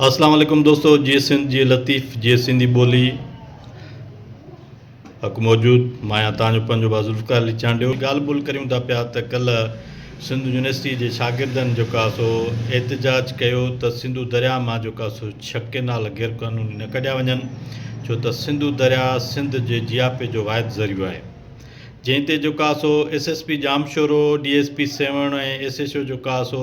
اسلام عليڪم دوستو جي سنڌ جي لطيف جي سنڌي ٻولي حق موجود مايا تان جو پنجو با ذوالفقار علي چانڊيو ڳالھ ٻول ڪريون ٿا پيا ته ڪلھ سنڌ يونيورسٽي جي شاگردن جو ڪا سو احتجاج ڪيو ته سنڌو دريا مان جو ڪا سو ڇھ ڪينال غير قانوني نه ڪڍيا وڃن ڇو ته سنڌو دريا سنڌ جي جياپي جو واحد ذريعو آھي جنھن تي جو ڪا سو S S P Jamshoro D S P Sehwan ۽ S H O جو ڪا سو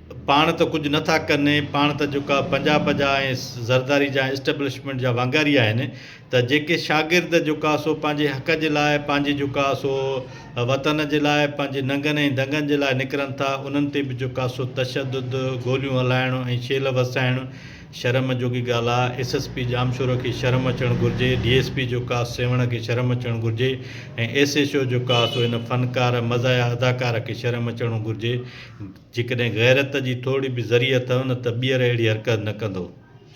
پاڻ ته ڪجهه نه ٿا ڪن ۽ پاڻ ته جيڪا پنجاهه پنجاهه ۽ زرداري جا اسٽيبلشمينٽ جا وانگاري آهن ته جيڪي شاگرد جيڪا سو پنهنجي حق جي لاء پنهنجي جيڪا سو وطن جي لاء پنهنجي ننگن ۽ دنگن جي لاء نڪرن ٿا انهن تي به جيڪا سو تشدد گوليون هلائڻ ۽ شيل وسائڻ شرم جوڳي ڳالهه آهي ايس ايس پي ڄامشورو کي شرم اچڻ گهرجي ڊي ايس پي جيڪا سيوهڻ کي شرم اچڻ گهرجي ۽ ايس ايڇ او جيڪا سو هن فنڪار مزاحيه اداڪار کي شرم اچڻ گهرجي جيڪڏهن غيرت جي ٿورڙي به ذري اٿئو نه ته ٻيهر اهڙي حرڪت نه ڪندئو.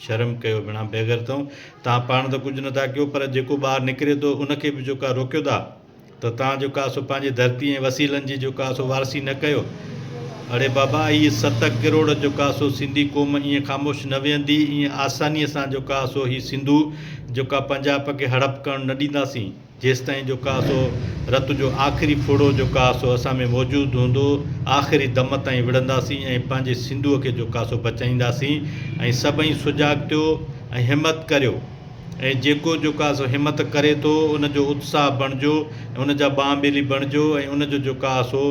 شرم ڪيو بنا بيغيرتؤن توهان پاڻ ته ڪجهه نٿا ڪيو پر جيڪو ٻاهر نڪري ٿو ان کي به جو ڪا روڪيو ٿا ته توهان جو ڪا سو پنهنجي ڌرتي ۽ وسيلن جي جو ڪا سو وارثي نه ڪيو اڙي بابا اهي ست ڪروڙ جو ڪا سو سنڌي قوم ائين خاموش نه ويهندي ائين آساني سان جو ڪا سو هي سنڌو جو ڪا پنجاب کي هڙپ ڪرڻ نه ڏينداسين. جيستائين جو ڪا سو رت جو آخري ڦڙو جو ڪا سو اسان ۾ موجود هوندو، آخري دم تائين وڙهنداسين ۽ پنهنجي سنڌوء کي جو ڪا سو بچائينداسين ۽ سڀئي سجاڳ ٿيو ۽ همت ڪريو ۽ جيڪو جو ڪا سو همت ڪري ٿو ان جو اتساهه بڻجو ۽ ان جا ٻانهن ٻيلي بڻجو ۽ ان جو جو ڪا سو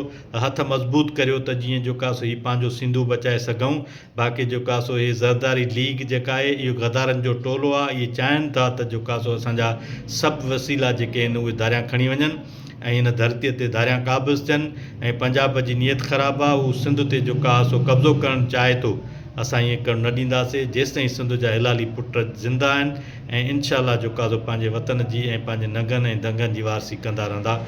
هٿ مضبوط ڪريو ته جيئن جو ڪا سو هي پنهنجو سنڌو بچائي سگهون. باقي جو ڪا سو هي زرداري ليگ جيڪا آهي اهو غدارن جو ٽولو آ اهي چاهن ٿا ته جو ڪا سو اسان جا سڀ وسيلا جيڪي آهن اهي ڌاريان کڻي وڃن ۽ هن ڌرتي تي ڌاريان قابض ٿين ۽ پنجاب جي نيت خراب آ هو سنڌ تي جو ڪا سو قبضو ڪرڻ چاهي ٿو اسان ايئن ڪرڻ نه ڏينداسي جيستائين سنڌ جا هلالي پٽ زنده آهن ۽ انشاء الله جو ڪا سو پنهنجي وطن جي ۽ پنهنجي ننگن ۽ دنگن جي وارثي ڪندا رهندا.